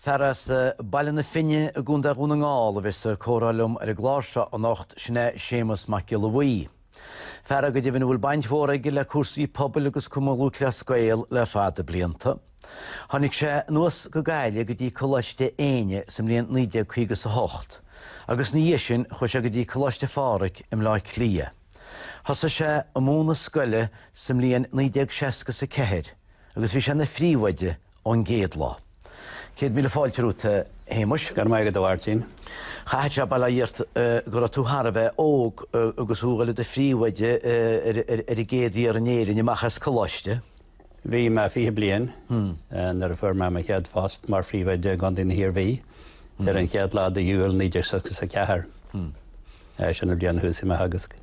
Fear as Baile na Finne i gContae Dhún na nGall a bheidh sa comhrá liom ar an gclár seo anocht, sin é Séamus Mac Giolla Bhuí. Fear go deimhin a bhfuil baint mhór aige le cúrsaí pobail agus Cumann Lúthchleas Gael le fada blianta. Tháinig sé anuas go Gaillimh go dtí Coláiste Éinne sa mbliain naoi déag caoga is a hocht agus ina dhiaidh sin chuaigh sé go dtí Coláiste Phádraig i mBleá Cliath. Thosaigh sé ag múineadh scoile sa mbliain 1960 is a ceathair agus bhí sé ina phríomhoide ón gcéad lá. Céad míle fáilte romhat, a Shéamuis. Go raibh maith agat, a Mháirtín. Chaithfeadh sé ar ndóigh go raibh tú thar a bheith óg agus thú ag dul i do phríomhoide ar an gcéad fhear in Éirinn amach as coláiste. Bhí mé fiche bliain nuair a fuair mé mo chéad phost mar phríomhoide i gContae na hIarmhí ar an chéad lá de Iúil 1964. Sin an bhliain a thosaigh mé a theagasc.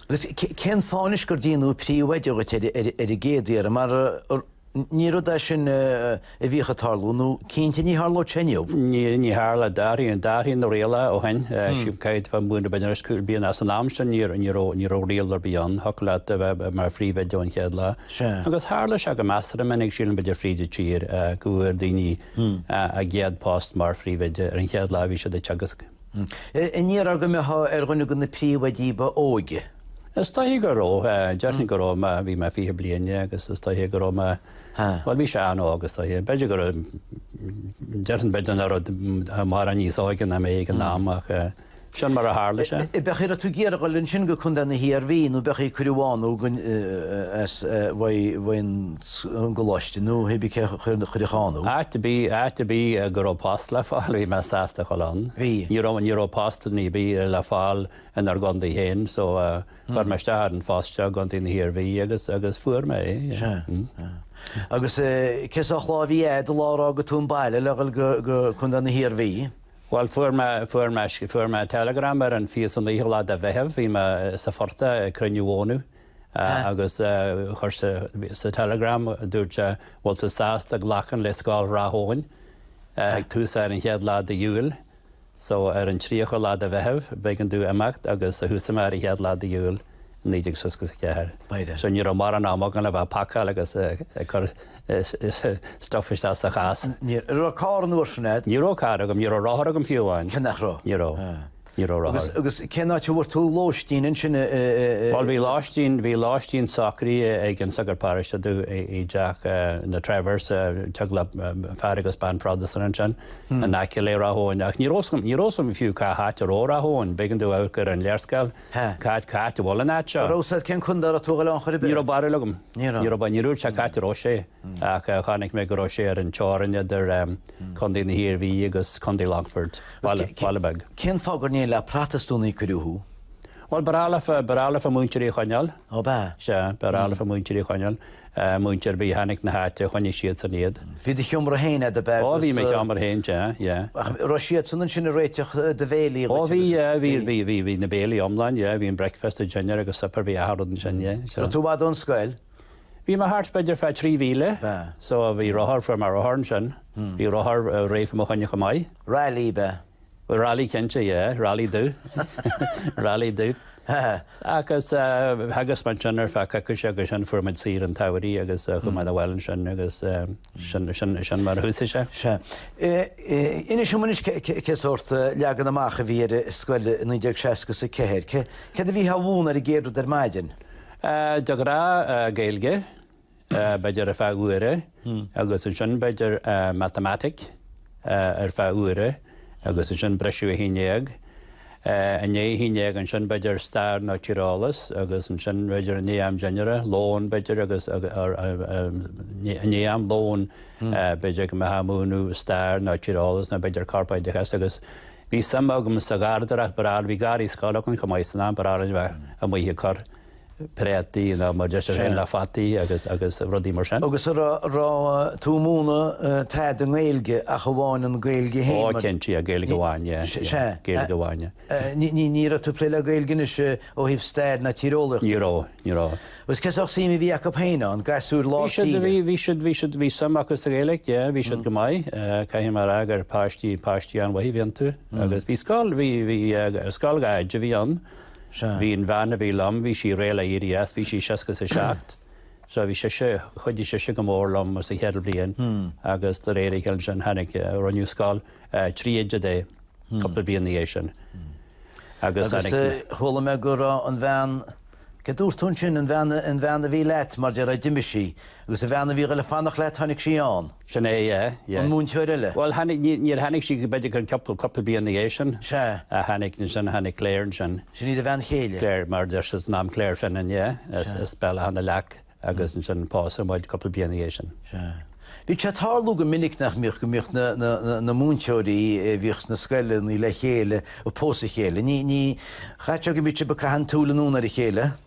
Agus cén fáth anois gur deineadh príomhoide díot ar an gcéad iarraidh mar ní rud é sin a bhíodh ag tarlú nó cinnte ní tharlóidh sé inniu. Ní tharlódh, d'athraigh, d'athraigh na rialacha ó shin, sílim cupla bliain b'fhéidir agus cúpla bliain as an am sin ní raibh, ní raibh riail ar bith ann, thiocfadh leat a bheith mar phríomhoide ón chéad lá. Sea. Agus tharla sé go measartha minic sílim b'fhéidir fríd an tír go bhfuair daoine a gcéad post mar phríomhoide ar an chéad lá a bhí siad ag teagasc. Ní raibh tú ar dhuine de na príomhoidí ba óige? Is dóiche go raibh, déarfainn go raibh, bhí mé fiche bliain agus is dóiche go raibh mé. Bhuel bhí sé an-óg is dóigh. B'fhéidir go raibh, déarfainn b'fhéidir nach raibh mórán níos óige ná mé ag an am ach sin mar a tharla sé. An raibh tú ag iarraidh dul ansin go Contae na hIarmhí nó b'fhéidir ag cur an bháin chugainn as Maigh an gColáiste nó hé bith cé a chuir an churiallach ann thú. Áit ar bith go raibh post le fáil bhí mé sásta a dhul ann. Ní raibh post ar bith le fáil inár gcontae féin so, Chuir mé isteach ar an phost seo i gContae na hIarmhí agus, agus fuair mé é. Sea. Agus cén sórt lá a bhí a'd an lá a d'fhága tú an baile le dhul go, go Contae na hIarmhí? Bhuel fuair mé, fuair mé, fuair mé telegram ar an fiche is a naoú lá de Mheitheamh, bhí mé sa phortach ag cruinniú mhónadh agus ar seisean sa telegram dúirt sé bhfuil tú sásta glacadh le Scoil Ráth Eoin ag toiseacht ar an chéad lá d'Iúil? So, ar an 30 lá de Mheitheamh, b'éigean domh imeacht agus thoisigh mé ar an chéad lá de Iúil, 1964. So, ní raibh mórán am agam le bheith ag pacáil agus ag cur stuff isteach sa chás. Ní raibh carr an uair sin a'd? Ní raibh carr agam, ní raibh rothar agam fiú amháin. Cé nach raibh? Ní raibh. Ní raibh rothar. Agus, agus cén áit a bhfuair tú lóistín ansin i, i, i... Bhuel, bhí lóistín, bhí lóistín socraithe ag an sagart paróiste domh i, i dteach na Trevors, teaghlach fear agus bean Protastúnach ansin. in aice le Ráth Eoin, ach ní raibh 's agam fiú cá háit a raibh Ráth Eoin. B'éigean domh amharc ar an léarscáil. Cá háit, cá háit a bhfuil an áit seo? Ní raibh 's agam cén contae a raibh tú ag goil ann chor ar bith. Ní raibh barúil agam. Ní raibh. Ní raibh, ní raibh barúil agam cá háit a raibh sé, ach chonaic mé go raibh sé ar an teorainn idir Contae na hIarmhí agus Contae Longfoirt. Baile beag. Cén fáth gur níon le Protastúnaigh a cuireadh thú? Bhuel, ba bhreá liom, ba bhreá liom muintir Uí Chonaill. Ó, b'ea? Sea, ba bhreá liom muintir Uí Chonaill. muintir ar bith a tháinig 'na háite, choinnigh siadsan iad. Bhí do sheomra féin agat, ab ea? Ó, bhí mo sheomra féin, yeah, yeah. An raibh siadsan ansin ag réiteach do bhéilí dhuit? Ó, bhí, yeah, bhí, bhí, bhí, bhí na béilí iomlán, yeah, bhí an breakfast, an dinnéar agus supper, bhí achan rud ansin, yeah. So. Raibh tú i bhfad ón scoil? Bhí mé thart b'fhéidir fá trí mhíle, so bhí rothar fuair mé rothar ansin, hmm. bhí rothar uh, réir mo chuimhne go maith. Raleigh ab ea? Raleigh cinnte, yeah, Raleigh dubh, Raleigh dubh. Agus theagasc muid ansin ar feadh coicíse agus ansin fuair muid saoire an tsamhraidh agus chuaigh muid abhaile ansin agus sin mar a thosaigh sé. Sea. Inis dom anois cé sórt leagan amach a bhí ar an scoil i 1964. Céard a bhítheá a mhúineadh an gcéad rud ar maidin? De ghnáth Gaeilge, b'fhéidir ar feadh uaire agus ansin b'fhéidir Matamaitic ar feadh uaire agus ansin briseadh 11 go dtí 11 ansin b'fhéidir Stair nó Tíreolas agus ansin b'fhéidir i ndiaidh am dinnéara, lón b'fhéidir agus i ndiaidh am lóin b'fhéidir go mbeadh muid ag múineadh Stair nó Tíreolas nó b'fhéidir Corpoideachas agus bhí suim agam sa gharradóireacht, b'fhearr, bhí garraí scoile againn chomh maith san am, b'fhearr liom a bheith amuigh ag cur. préataí nó mar a deir sibh féin le fataí agus rudaí mar sin. Agus an raibh tú ag múineadh tada i nGaeilge ach amháin an Gaeilge féin. Ó cinnte, Gaeilge amháin, sea, Gaeilge amháin. Ní raibh tú ag plé le Gaeilge anois ó thaobh stair ná tíreolaíochta? Ní raibh, ní raibh. Agus cén sórt suim a bhí acu féin ann, gasúir lár tíre? Bhí siad, bhí siad, bhí suim acu sa Ghaeilge, yeah, bhí siad go maith. Caithfidh mé a rá gur páistí, páistí an-mhaith a bhí iontu. Agus bhí scoil, bhí, bhí scoil dhá oide a bhí ann. Sea. Bhí an bhean a bhí liom, bhí sí réidh le éirí as, bhí sí seasca 's a seacht. So bhí sise, chuidigh sise go mór liom sa chéad bhliain agus de réir a chéile ansin tháinig, rinneadh scoil, trí oide de, cúpla bliain ina dhiaidh sin. Agus tháinig Agus eh chuala mé go raibh an bhean, céard a dúirt tú ansin, an bhean, an bhean a bhí leat, mar déarfá, d'imigh sí, agus an bhean a bhí ag dul a fanacht leat, tháinig sí ann? Sin é, yeah, yeah. An múinteoir eile? Bhuel, tháinig, níor tháinig sí, b'fhéidir an cúpla, cúpla bliain ina dhiaidh sin. Sea. A tháinig ansin, a tháinig Claire ansin. Sin í do bhean chéile? Claire, mar deir siad, an t-ainm Claire Finan, yeah. Sea. As Béal Átha na Leac agus ansin pósadh muid cúpla bliain ina dhiaidh sin. Sea. Bhíodh sé ag tarlú go minic nach mbíodh, go mbíodh na, na, na, na múinteoirí a bhíodh sna scoileanna le chéile, ag pósadh a chéile. Ní, ní, chaithfeadh go mbíodh siad ag caitheamh na súl anonn ar a chéile.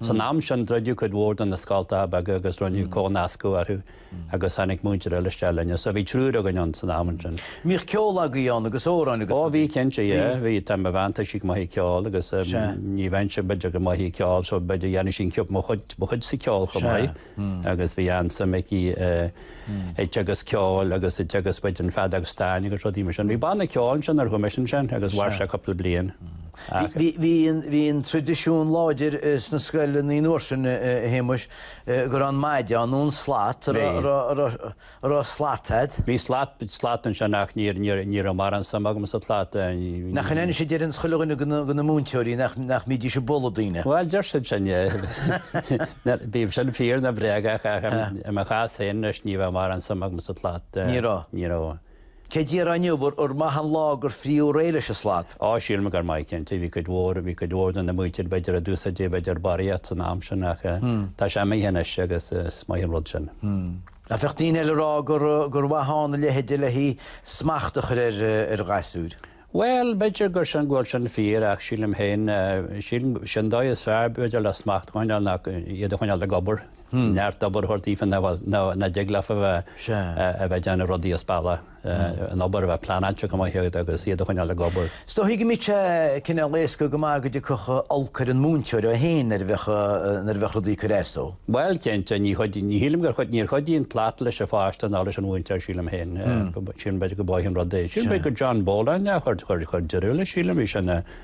San am sin druideadh cuid mhór de na scoltacha beaga agus rinneadh comhnascadh orthu agus tháinig múinteoir eile isteach linne. So bhí triúr againn ann san am ansin. Mbíodh ceol agaibh ann agus amhráin agus? Ó bhí cinnte, yeah. Bhí, tá mo bhean, tá sí go maith ag ceol agus ní bheinnse b'fhéidir go maith ag ceol so b'fhéidir dhéanfadh sí mo chuid sa cheol chomh maith. agus bhí an-suim aici i dteagasc ceoil agus i dteagasc feadóg stáin agus rudaí mar sin. Bhí banna ceoil ansin ar dhume ansin agus mhair sé cúpla bliain acu. Bhí an traidisiún láidir sna scoileanna an uair sin, a Shéamuis, go raibh an maide ann nó an slat a raibh An raibh slat a't? Bhí slat, slat anseo nach, níor, níor, ní raibh mórán suime agam sa tslat. Nach iontach a deireanns chuile dhuine go na, go na múinteoirí nach, nach mbídís ag bualadh daoine? Bhuel, deir siad sin, yeah. Bíodh sin fíor nó bréagach ach i mo chás féin anois ní raibh mórán suime agam sa tslat. Ní raibh? Ní raibh. An ndéarfá inniu gur maith an lá gur fritheadh réidh leis an slat? Á, sílim gur maith, cinnte. Bhí cuid mhór, bhí cuid mhór de na múinteoirí b'fhéidir a d'úsáideadh b'fhéidir barraíocht san am sin ach tá sé amuigh anois agus is maith an rud sin. Ach bheadh daoine eile a rá gur mhaith ann a leithéide le haghaidh smacht a chur ar ghasúir? Bhuel, b'fhéidir gur sin go bhfuil sin fíor ach sílim féin, sílim, sin dóigh is fearr b'fhéidir le smacht a choinneáil ach iad a choinneáil ag obair, neart obair a thabhairt daofa nach dtig leofa a bheith ag déanamh rudaí as bealach. an obair a bheith pleanáilte go maith agat agus iad a choinneáil ag obair. Is dóigh go mbíodh sé cineál éasca go maith go dtiocfadh olc ar an múinteoir é féin nuair a bheadh nuair a bheadh rudaí ag cur as dó. Bhuel, cinnte, ní chuidíonn, ní shílim gur chuid, níor chuidíonn slat leis an pháiste ná leis an mhúinteoir sílim féin. Sílim b'fhéidir go mb'amhlaidh an rud é. Sílim b'fhéidir gur John Boland a chuir, chuir, chuir deireadh leis sílim, bhí sé ina,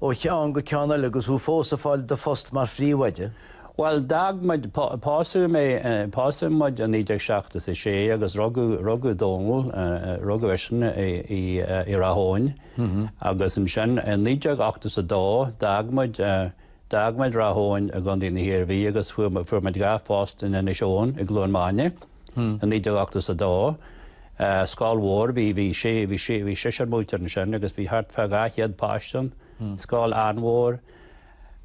ó cheann go ceann eile agus thú fós ag fáil do phost mar phríomhoide? Bhuel, d'fhág muid, pósadh mé, pósadh muid i 1976 agus rugadh, rugadh Dónal, rugadh eisean i Ráth Eoghain agus ansin i naoi déag ochtó is a dó d'fhág muid, d'fhág muid Ráth Eoghain i gContae na hIarmhí agus fuair muid, fuair muid dhá phost in Inis Eoghain i gCluain Maine i naoi déag ochtó is a dó. scoil mhór, bhí seisear múinteoir ansin agus bhí thart fá 200 páiste ann, scoil an-mhór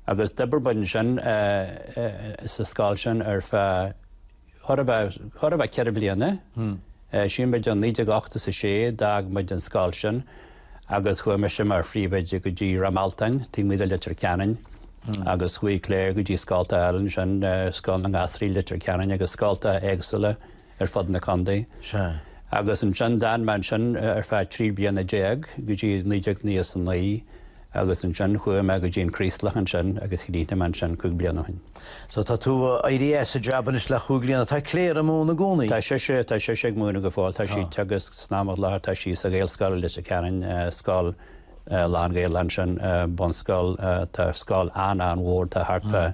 agus d'oibir muid ansin sa scoil sin ar feadh chóir a bheith, chóir a bheith ceithre bliana. Sílim 1980 is a sé a d'fhág muid an scoil sin agus chuaigh mise mar phríomhoide go dtí Ráth Mealtain, taobh amuigh de Leitir Ceanainn agus chuaigh Claire go dtí scoltacha eile ansin, Scoil na nGasraí Leitir Ceanainn agus scoltacha éagsúla. ar fud na condae. Agus ansin d'fhan mé ansin ar feadh trí bliana déag go dtí naoi déag nócha is a naoi agus ansin chuaigh mé go dtí an Craoslach ansin agus chríochnaigh mé ansin cúig bliana ó shin. So tá tú éirithe as an jab anois le cúig bliana. Tá Clare ag múineadh i gcónaí? Tá sise, tá sise ag múineadh go fóill. Tá sí teagasc san am i láthair, tá sí sa Ghaelscoil i Leitir Ceanainn, scoil lán-Ghaeilge ansin, bunscoil, tá scoil an-an-mhór, tá thart fá,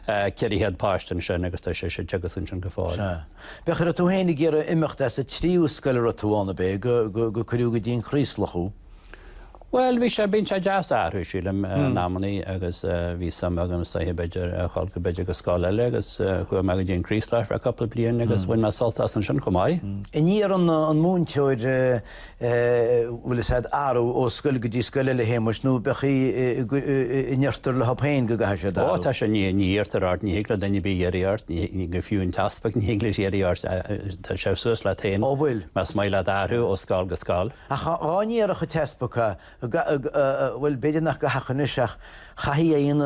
400 páiste ansin agus tá sé seisear déag ansin go fóill. Sea. Féach, ar tú fhéin a d'iarr imeacht as an tríú scoil a raibh tú ann, ab é go, go, gur cuireadh go dtí an Craoslach thú? Bhuel, bhí sé, bíonn sé deas athrú sílim in amannaí agus bhí suim agam is dóiche b'fhéidir a dhul go, b'fhéidir go scoil eile agus chuaigh mé go dtí an Craoslach ar feadh cupla bliain agus bhain mé sult as ansin chomh maith. I ndiaidh an, an múinteoir eh, bhfuil fhios a'd, athrú ó scoil go dtí scoil eile a Shéamais, nó b'fhéidir go, n-iarrtar orthu féin go gcaithfidh siad Ó, athrú. tá sé, ní, ní iarrtar ort, ní thig le duine ar bith iarraidh ort, ní thig, go fiú an t-easpag ní thig leis iarraidh ort, tá sé suas leat féin Ó bhfuil. más maith leat athrú ó scoil go scoil. Ach dhá n-iarrfadh an t-easpag a. Bhuel, b'fhéidir nach go háirithe anois ach cinnte ann,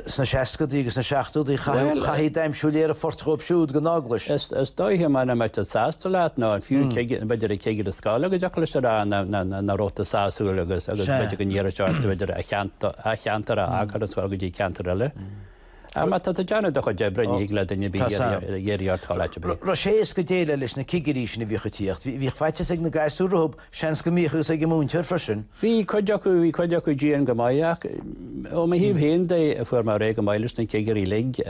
sna seascadaí agus sna seachtódaí, chaithfidh d'aimsiú léir an phoirt dhóib siúd go náglais. Is dóiche mura mbeadh sé sásta leat nó fiú b'fhéidir an cigire scoile go dtiocfadh leis a rá nach raibh tú sásúil agus b'fhéidir go n-iarrfadh sé ort b'fhéidir a cheantar a fhágáil an scoil go dtí ceantar eile. Ach má tá tú ag déanamh do chuid oibre, ní thig le duine ar bith iarraidh ort dhul áit ar bith. Raibh sé éasca déileáil leis na cigirí sin a bhíodh ag tíocht. Bhíodh faitíos ag na gasúir rompu, seans go mbíodh is ag an múinteoir freisin. Bhí cuid acu, bhí cuid acu dian go maith ach ó mo thaobh féin de fuair mé réidh go maith leis na cigirí uilig.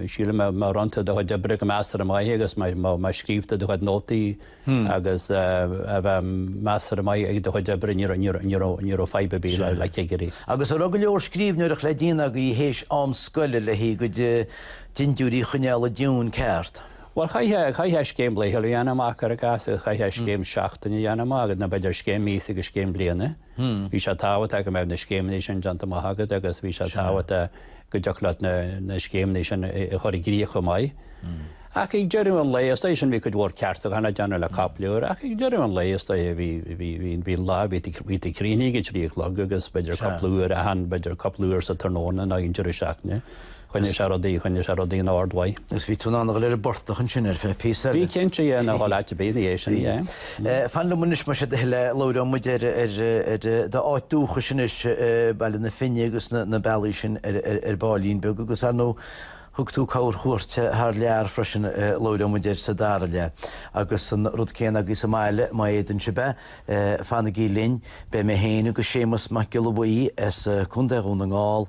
Sílim má rinne tú do chuid oibre go measartha maith agus má scríobh tú do chuid nótaí, agus a bheith measartha maith ag do chuid oibre, ní raibh fadhb ar bith le cigirí. Agus a raibh go leor scríbhneoireacht le déanamh agaibh théis am scoile le haghaidh do chuid dintiúirí a choinneáil i dtiúin ceart. Bhuel, chaithfeá scéim laethúil a dhéanamh amach, cuir i gcás, agus chaithfeá scéim seachtaine a dhéanamh amach, nó b'fhéidir scéim míosa agus scéim bliana. Bhí sé tábhachtach go mbeadh na scéimeanna sin déanta amach agat agus bhí sé tábhachtach go dtiocfadh leat na scéimeanna sin a chur i gcrích chomh maith. Ach ag deireadh an lae, is dóigh sin bhí cuid mhór ceartúcháin le déanamh, cupla uair, ach ag deireadh an lae is dóigh bhí bhí an lá, bhí tú críochnaithe ag a trí a chlog agus b'fhéidir cupla uair achan, b'fhéidir cupla uair sa tráthnóna nó ag an deireadh seachtaine. Choinnigh sé rudaí, choinnigh sé rudaí in ord duit. Agus bhí tú in ann a dhul ar an bportach ansin ar feadh píosa eile. Bhí cinnte, yeah, in ann a dhul áit ar bith ina dhiaidh sin, yeah. Fan liom anois mar sin go fóill, labhróidh muid ar, ar, ar do áit dúchais anois, Baile na Finne agus na, na bealaí sin ar, ar, ar ball beag agus ar ndóigh thug tú corr chuairt thar lear freisin, labhróidh muid air sa dara leath. Agus an rud céanna agaibh sa mbaile, maidir libh, fanaigí linn, beidh mé féin agus Séamas Mac Giolla Bhuí as Contae Dhún na nGall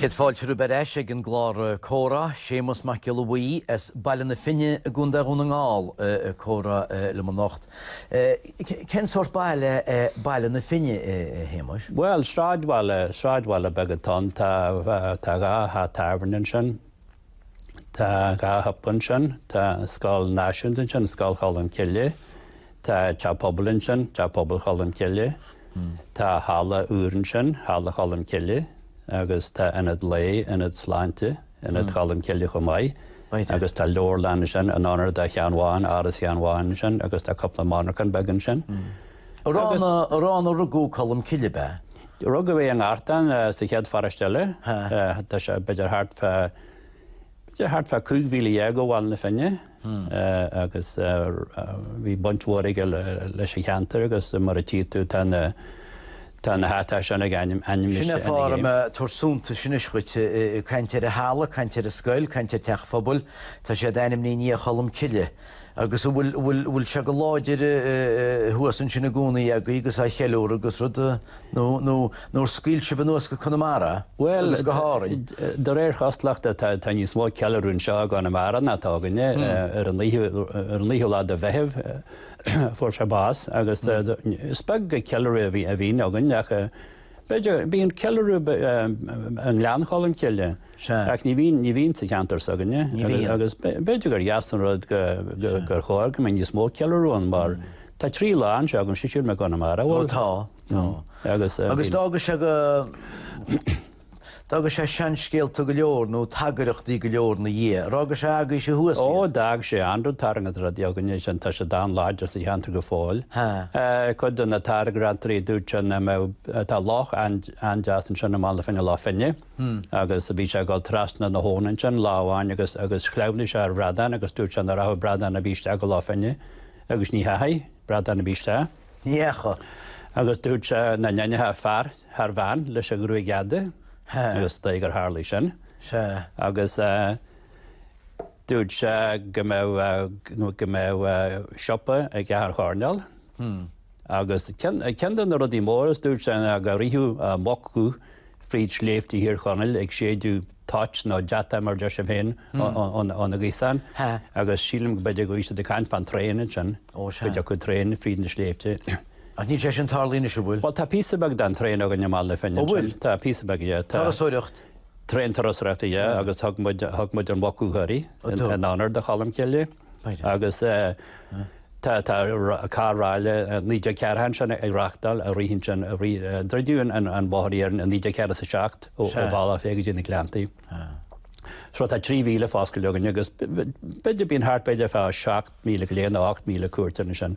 Céad fáilte romhaibh ar ais ag an gclár Comhrá, Séamas Mac Giolla Bhuí as Baile na Finne i gContae Dhún na nGall ag comhrá liom anocht. Cén sórt baile é Baile na Finne, a Shéamais? Bhuel, sráidbhaile, sráidbhaile beag atá ann, tá dhá theach tábhairne ansin. Tá dhá shiopa ansin, tá Scoil Náisiúnta ansin, Scoil Cholm Cille, tá teach pobail ansin, Teach Pobail Cholm Cille, tá halla úr ansin, Halla Cholm Cille, agus tá ionad lae, ionad sláinte, Ionad Cholm Cille chomh maith. Agus tá leabharlann ansin in onóir do Sheán Bhán, Áras Sheáin Bháin ansin, agus tá cúpla monarchan beag ansin. Agus. Arbh ann a rugadh Colm Cille, ab ea? Rugadh é i nGartán, sa chéad pharóiste eile. Tá sé b'fhéidir thart fá, b'fhéidir thart fá cúig mhíle dhéag ó Bhaile na Finne agus bhí baint mhór aige leis an cheantar agus mar a tchí tú tá na, tá na háiteacha sin ag ainm, ainm Sin é fáth a raibh mé a' tabhairt suntais anois dhuit, caint ar an halla, caint ar an scoil, caint ar teach phobail, tá siad ainmnithe i ndiaidh Cholm Cille. agus an bhfuil bhfuil sé go láidir thuas ansin i gcónaí agaibh agus á cheiliúradh agus rudaí nó nó ar scaoil sibh anuas go Conamara Bhuel agus go hÁrainn. de réir chosúlachta tá tá níos mó ceiliúradh anseo i gConamara ná atá againne ar an naoú ar an naoú lá de Mheitheamh fuair sé bás agus is beag ceiliúradh a bhí a bhíonn againn ach B'fhéidir, bíonn ceiliúradh i nGleann Cholm Cille ach ní bhíonn, ní bhíonn sa cheantar s'againne agus b'fhéidir gur dheas an rud gur chóir go mbeadh níos mó ceiliúradh ann mar tá trí lá anseo agaibh, sílim, i gConamara. Bhuel tá, tá. Agus, eh, agus d'fhága sé go D'fhága sé seanscéalta go leor nó tairngreachtaí go leor ina dhiaidh, a rá gur sé agaibhse thuas iad. Ó, d'fhág sé an-rud tairngreachtaí d'fhág aníos ann. Tá siad an-láidir sa cheantar go fóill. Cuid de na tairngreachtaí a dúirt sé nach mbeadh, tá loch an-deas ansin i mBaile na Finne, Loch Finne, agus bhí sé ag dul trasna na habhann ansin lá amháin agus shleamhnaigh sé ar bhradán agus dúirt sé nach rachadh bradán ar bith isteach go Loch Finne agus ní theachaigh bradán ar bith isteach. Ní dheachaigh. Agus dúirt sé nach n-aithneofá fear thar bhean leis an ghruaig fhada agus dóigh gur tharlaigh sin. Sea. Agus dúirt sé go mbeadh, go mbeadh siopa ag achan choirnéal agus ceann de na rudaí móra is dúirt sé ná go rithfeadh muc fríd sléibhte Thír Chonaill ag séideadh toit nó deatach mar a deir sibh féin óna gaosáin agus sílim go b'fhéidir go raibh siad ag caint fán traein ansin, go dtiocfadh traein fríd na sléibhte. Ach níl sé sin tarlaithe anois, an bhfuil? Bhuel tá píosa beag den traein againn i mBaile na Finne ansin. An bhfuil? Tá píosa beag, yeah. Turasóireacht? Traein turasóireachta, yeah, agus thug muid an Mhuc Dhubh uirthi in onóir do Cholm Cille. agus tá carr ráille 1940 ansin ag reáchtáil ag rith ansin ag rith. Druideadh an bóthar iarainn 1947 ó Bhealach Féich go dtí na Gleanntaí. So tá 3 mhíle foscailte againn agus b'fhéidir bíonn thart b'fhéidir fá 7,000 go leith nó 8,000 cuairteoir ansin.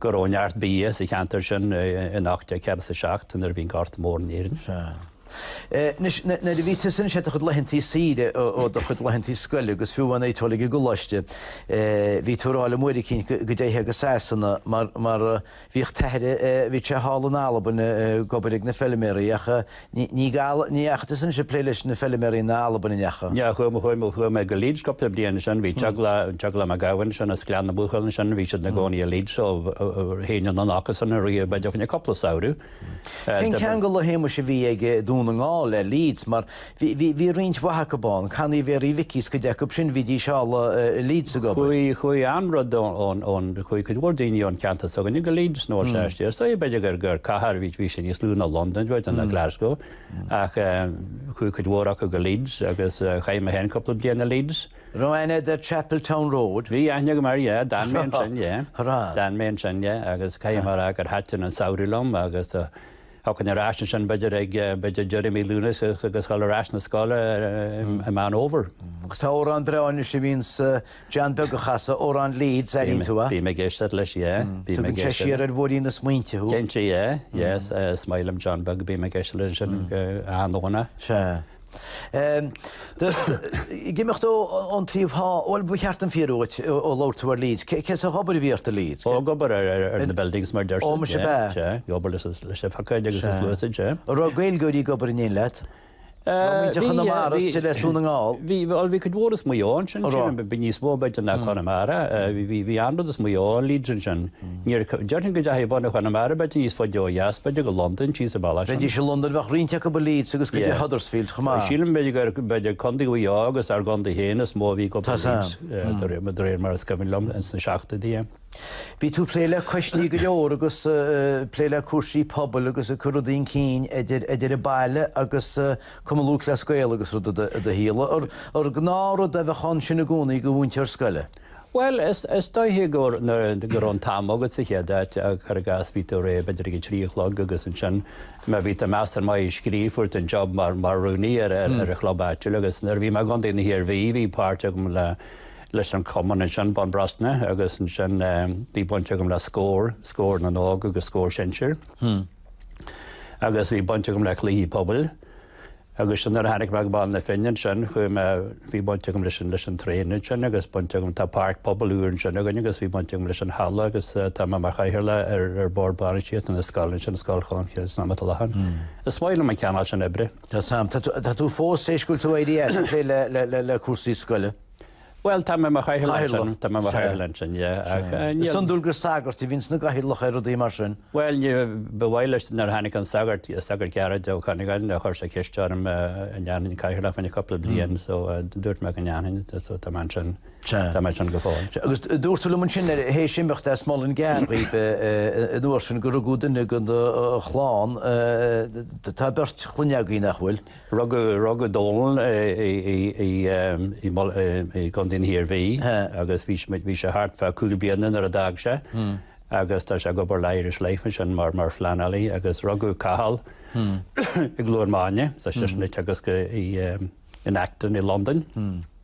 go raibh neart bia sa cheantar sin in 1847 nuair a bhí an Gorta Mór in Éirinn. Sea. Anois, nuair a bhí tusa anois ar do chuid laethantaí saoire ó do chuid laethantaí scoile agus fiú amháin ag dul ag an gcoláiste, bhí tú ag rá liom uair eicínt go dtéitheá go Sasana mar bhíodh t'athair, bhíodh sé thall in Albain ag obair ag na feilméaraí ach, Ní raibh, ní, ach eisean ag plé leis na feilméaraí in Albain in Each. Chuaigh mé go Leeds cúpla bliain ansin, bhí teaghlach Mac Gabhann ansin as Gleann na Buachaill ansin, bhí siad ina gcónaí i Leeds so théinn anonn acusan ar feadh b'fhéidir cúpla samhradh. Cén ceangal a Shéamuis a bhí ag Dún na nGall le Leeds mar bhí bhí bhí roinnt mhaith acub ann, Canny Mhéaraí Mhicí agus cuid acub sin bhídís thall i Leeds ag obair. Chuaigh chuaigh an-rud ón ón ón. Chuaigh cuid mhór daoine ón gceantar s'againne go Leeds nó as. Sea, b'fhéidir gur cathair, bhí sé níos lú ná Londain, b'fhéidir, ná Glasgow, ach chuaigh cuid mhór acu go Leeds agus chaith mé féin cúpla bliain i Leeds. Raibh aithne agat ar Chapeltown Road? Bhí aithne agam air, yeah, d'fhan mé ansin, yeah. D'fhan mé ansin, yeah, agus caithfidh mé a rá gur thaitin an samhradh liom agus. Ag teacht ar ais ansin b'fhéidir ag deireadh mhí Lúnasa agus dhul ar ais na scoile i Meán Fhómhair. Agus tá amhrán breá anois a bhíonn John Beag a chasadh, amhrán Leeds, ar airigh tú é? Bím ag éisteacht leis, yeah. Tugann sé siar ar bhóithrín na smaointe thú. Cinnte, yeah, yes, is maith liom John Beag, bím ag éisteacht leis ansin go an-dóna. Sea. Ag imeacht ón taobh thall, bhuel, ba cheart an fíor uait ó labhair tú ar Leeds. Cén sórt obair a bhí ort i Leeds? Ó, ag obair ar na buildings mar a déarfá. Ó, muise ab ea? Sea, ag obair leis an phiocóid agus sluasaid, sea. An raibh Gaeilgeoirí ag obair in éindí leat? Bhí, bhí. Muintir Chonamara is dóigh le Dún na nGall. Bhí, bhuel, bhí cuid mhór as Maigh Eo ansin. An raibh? Bhí níos mó b'fhéidir ná Conamara. Bhí, bhí, bhí an-rud as Maigh Eo i Leeds ansin. Déarfainn go dteachaigh bunadh Chonamara, b'fhéidir níos faide ó dheas, b'fhéidir go Londain, thíos an bealach sin. Bheidís i Londain, bheadh roinnt acu i Leeds agus go dtí Huddersfield chomh maith. Sílim b'fhéidir gur b'fhéidir Contae Mhaigh Eo agus ár gcontae féin is mó a bhí ag dul go Leeds de réir mar is cuimhin liom ins na seachtóidí. Bhí tú ag plé le coistí go leor agus ag plé le cúrsaí pobail agus ag cur rudaí chun cinn idir idir an baile agus Cumann Lúthchleas Gael agus rud i do i do shaol. Ar ar gnáth rud a bheadh ann sin i gcónaí do mhúinteoir scoile? Bhuel, is dóiche gur raibh an t-am agat sa chéad áit, cuir i gcás, bhí tú réidh b'fhéidir ag a trí a chlog agus ansin má bhí tú measartha maith ag scríobh fuair tú an job mar rúnaí ar an chlub áitiúil agus nuair a bhí mé i gContae na hIarmhí bhí páirt agam leis an chumann ansin, Bun Brosna agus ansin bhí baint agam le Scór, Scór na nÓg agus Scór Sinsear agus bhí baint agam le Cluichí Pobail. Agus nuair a tháinig mé go Baile na Finne ansin chuaigh mé, bhí baint agam leis an, leis an traein ansin agus baint agam, tá páirc pobail úr ansin againn agus bhí baint agam leis an halla agus tá mé mar chathaoirleach ar, ar bord bainistíochta na scoile ansin, Scoil Cholmcille san am atá i láthair. Is maith liom an cineál sin oibre. Tá, tá, tá tú fós, th'éis go bhfuil tú éirithe as ag plé le, le, le, le cúrsaí scoile? Bhuel, táim i mo chathaoirleach ansin, yeah, ach níl. Is iondúil gur sagairt a bhíonn ina gcathaoirleach ar rudaí mar sin. Bhuel, ní, ba mhaith leis nuair a tháinig an sagart, sagart Gearóid Ó Conghaile, chuir sé ceist orm an ndéanfainn cathaoirleacht fá choinne cúpla bliain so dúirt mé go ndéanfainn so tá mé ansin, tá mé ansin go fóill. Agus dúirt tú liom ansin tar éis imeacht as Muileann gCearr an uair sin gur rugadh duine den do chlann, tá beirt chlainne agaibh nach bhfuil? Rugadh Dónal i gContae na hIarmhí agus bhí sé thart fá chúig bliana nuair a d'fhág sé agus tá sé ag obair le Irish Life ansin mar phleanálaí agus rugadh Cathal i gCluain Máine sa Cheismint agus in Acton i Londain.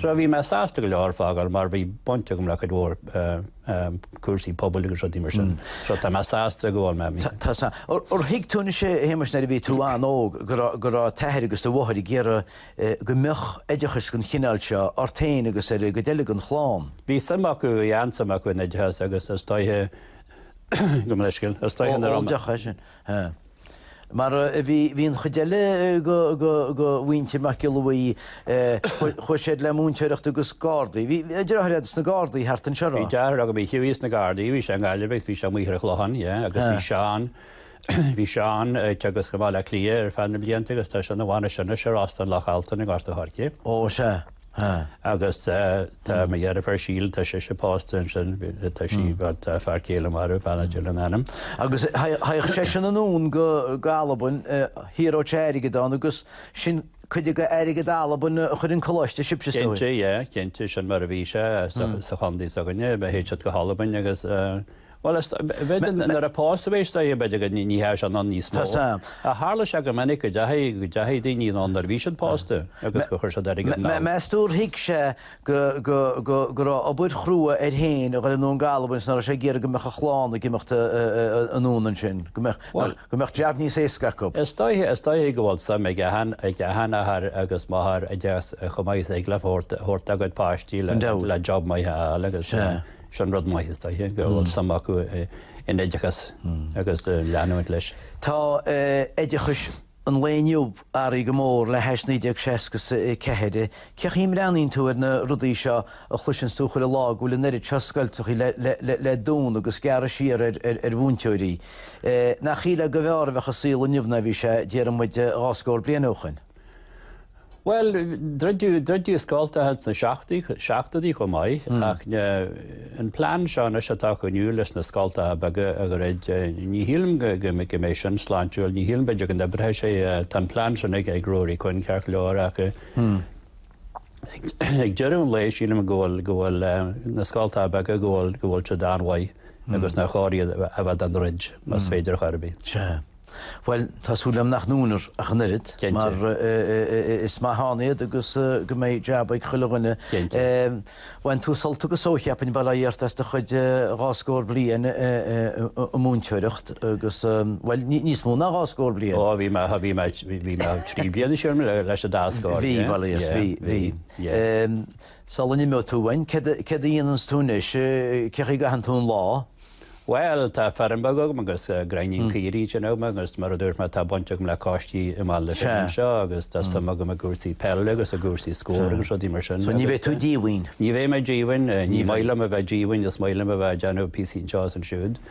Sea, bhí mé sásta go leor fágáil mar bhí baint agam le cuid mhór cúrsaí pobail agus rudaí mar sin. So tá mé sásta go bhfuil mé mí. Sea. Ar thuig tú anois, a Shéamais, nuair a bhí tú an-óg go raibh go raibh t'athair agus do mháthair ag iarraidh go mbeadh oideachas den chineál seo ort féin agus ar an gcuid eile den chlann? Bhí suim acu, bhí an-suim acu in oideachas agus is dóiche go mbeidh scil, is dóiche. Ó, deacair sin. Sea. Mar a bhí bhí an chuid eile go, go, go mhuintir Mac Giolla Bhuí, eh, chuaigh siad le múinteoireacht agus Gardaí. Bhí deartháir agat sna Gardaí thart anseo, Bhí á? deartháir agam a chuaigh sna Gardaí, bhí sé i nGaillimh agus bhí sé amuigh ar an Chlochán, yeah, agus bhí Seán, bhí Seán ag teagasc i mBaile Átha Cliath ar feadh na blianta agus tá sé ina bhainistir anois ar Óstán Loch Altan i nGort a' Choirce. Ó, sea. agus tá mo dheirfiúr Síle, tá sise pósta ansin, tá sí, tá a fear céile marbh, Hannah Dillon ainm. Agus théadh seisean anonn go hAlbain, ag saothrú airgead ann, agus sin cuid de airgead Albain a chuir chun coláiste sibhse Cinnte, yeah, cinnte, sin mar a bhí sé sa chontae s'againne, théadh siad go hAlbain agus. Bhuel, is bheidh, nuair a pós do bhéis do é ní dheachaigh seisean ann níos mó. Tharla sé go minic go deachaigh, go deachaigh daoine ann nuair a bhí siad pósta agus go chuir siad airgead abhaile. Meas tú ar thuig sé go, go, go, go raibh obair chrua air féin a ghoil anonn go hAlbain is nach raibh sé ag iarraidh go mbeadh a chlann ag imeacht anonn ansin, go mbeadh, go mbeadh jab níos éasca acu? Is dóigh, is dóigh go bhfuil suim ag, ag an athair agus máthair i dtús chomh maith is ag labhairt, ag labhairt agat páistí le, le jab maith a fháil agus. Is é an rud maith is dóiche go bhfuil suim acu in oideachas agus leanúint leis. Tá oideachas an lae inniu athraithe go mór le hais 1964. Cé chaoi a mbreathnaíonn tú ar na rudaí seo a chloiseanns tú chuile lá go bhfuil an oiread seo scoltacha le dúnadh agus gearradh siar ar mhúinteoirí? Nach shílfeá go mb'fhearr a bheadh an saol inniu ná a bhí sé, déarfaidh muid dhá scór bliain ó shoin. Bhuel, druideadh, druideadh scoltacha thart sna seachtaí, seachtóidí chomh maith, ach an plean seo anois atá acu inniu leis na scoltacha beaga a dhruid, ní shílim go, go, go mbeidh sin sláintiúil, ní shílim, b'fhéidir go n-oibreoidh sé, tá an plean sin ag, ag Ruairí Quinn ceart go leor ach ag deireadh an lae sílim go bhfuil, go bhfuil na scoltacha beaga go bhfuil, go bhfuil siad an-mhaith agus nár chóir iad a bheith á ndruid más féidir ar chor ar bith. Sea. Bhuel, tá súil agam nach ndúnfar ach an oiread, mar is maith ann iad agus go mbeidh jab ag chuile dhuine. Bhain tú sult agus só, cheapfainn, bail ó Dhia ort, as do chuid dhá scór bliain ag múinteoireacht agus, bhuel, níos mó ná dhá scór bliain. Ó, bhí mé, bhí mé, bhí mé trí bliana le cois an dá scór. Bhí, bail ó Dhia ort, bhí, bhí. Sula n-imeoidh tú uainn, céard a dhéananns tú anois, cé chaoi a gcaitheann tú an lá? Bhuel, tá feirm bheag agam agus gráinnín caoirigh anseo agam agus mar a dúirt mé tá baint agam le coistí i mBaile na Finne anseo agus tá suim agam i gcúrsaí peile agus i gcúrsaí Scór agus rudaí mar sin. So ní bheidh tú díomhaoin? Ní bheidh mé díomhaoin, ní maith liom a bheith díomhaoin, is maith liom a bheith ag déanamh píosaí anseo is ansiúd.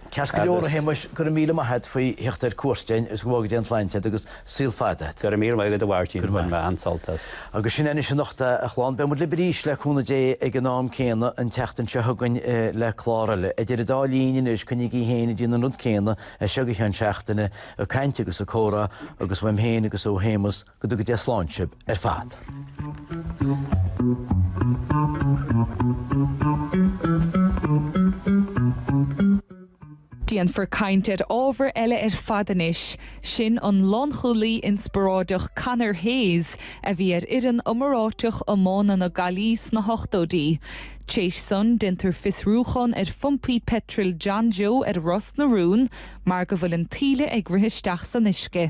Ceart go leor a Shéamais, go raibh míle maith agat faoi theacht ar cuairt againn agus go bhfága Dia an tsláinte agat agus. saol fada. Go raibh míle maith agat a Mháirtín, go raibh maith agat. Bhain mé an-sult as. Agus sin é anois anocht a chlann, beidh muid lib arís le cúnamh Dé ag an am céanna an tseachtain seo chugainn le clár eile. Idir an dá linn anois, coinnígí féin ag déanamh an rud céanna as seo go ceann seachtaine, ag caint agus ag comhrá agus uaim féin agus ó Shéamus, go dtuga Dia slán sib ar fad. Déanfar caint ar ábhar eile ar fad anois, sin an lánchúlaí inspioráideach Conor Hayes a bhí ar fhoireann iomráiteach iomána na Gaillimhe sna hochtóidí. Tar éis san déanfar fiosrúchán ar phumpaí peitril John Joe ar Ros na Rún mar go bhfuil an t-ola ag rith isteach san uisce.